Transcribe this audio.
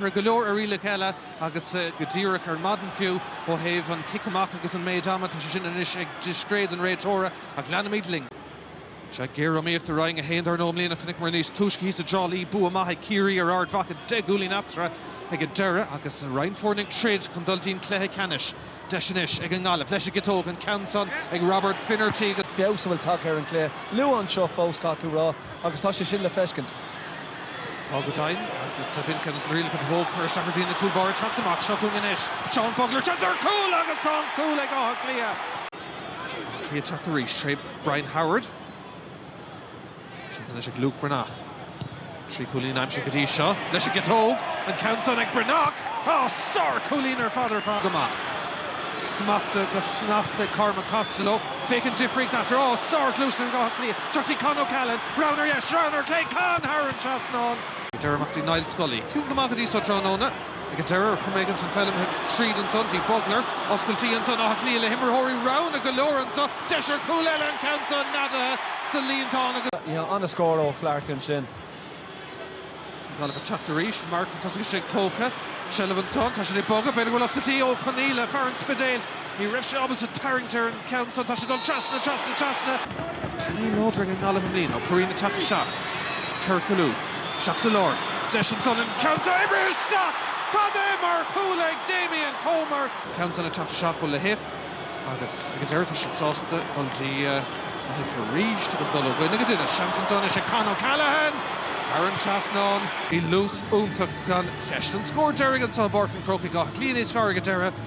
Tá go leor rialacha eile agus go díreach ar maidin, fiú ó thaobh an cic amach agus an méid ama, tá sé sin anois ag discréid an réiteora, ach leanfaimid linn. Sea, géariomaíocht i Roinn 1 dar ndóigh i mbliana. Chonaiceamar níos túisce thíos i dTrá Lí bua maith ag Ciarraí ar Ard Mhacha deich gcúilín eatarthu ag an deireadh agus roinnt foirne ag troid chun dul dtí'n cluiche ceannais. deis anois ag an nGaillimh leis an gciotóg, an ceann san ag Robert Finnerty. Feabhas atá tagtha ar an gcluiche. Luas anseo fós, caithfidh tú rá, agus tá sé sin le feiscint. Tá go deimhin, agus tá Duncan agus an rialacha do bhog, chuir isteach ar na cúil báire teacht amach. Seo chugainn anois Seán Bugler, seans ar chúl, agus tá an cúl ag Áth Cliath. Áth Cliath teacht arís tré Brian Howard. Seans anois ag Luke Breathnach. Trí chúilín aimsithe go dtí seo leis an gciotóg. An ceann san ag Breathnach! Á, sár-chúilín ar fad ar fad go maith. Smachta go snasta ag Cormac Costello. Féach an difríocht eatarthu. Á, sár-ghluaiseacht ag Áth Cliath. Teacht ag Con O'Callaghan, rogha ar dheis, rogha ar chlé, Con thar an trasnán! Ag deireadh, imeacht Niall Scully. Ciúin go maith go dtí seo tráthnóna. Ag an deireadh, choiméad an seilbh tríd ansan dtí. Bugler, oscailtí ansan. Áth Cliath le himreoirí roghanna go leor anseo. Deis ar chúl eile, an ceann san neadaithe sa líontán agus. An-scór ó Flaherty ansin. An Ghaillimh ag teacht arís. Marc, tosach aige, tógtha. Seilbh ansan. Tá siad ag bogadh. B'fhéidir go bhfuil oscailtí. Ó Conghaile, fear an Spidéil. Ní raibh sé ábalta tarraingt ar an cheann san. Tá sé ag dul trasna, trasna, trasna. Painéal láidir ag an nGaillimh i mbliana. Ó Curraoin ag teacht isteach. Céard go lú. Isteach sa lár. Deis ansan. An ceann san oibrithe isteach! Cad é mar chúl ag Damien Comer! Ceann san ag teacht isteach ó Lahiff agus ag an deireadh tá siad sásta dul dtí Lahiff arís agus dul ó dhuine go duine. Seans ansan anois ag Con O'Callaghan! Thar an trasnán. Bhí luas iontach gan cheist. An scór deiridh anso i bPáirc an Chrócaigh, Áth Cliath níos fearr ag an deireadh.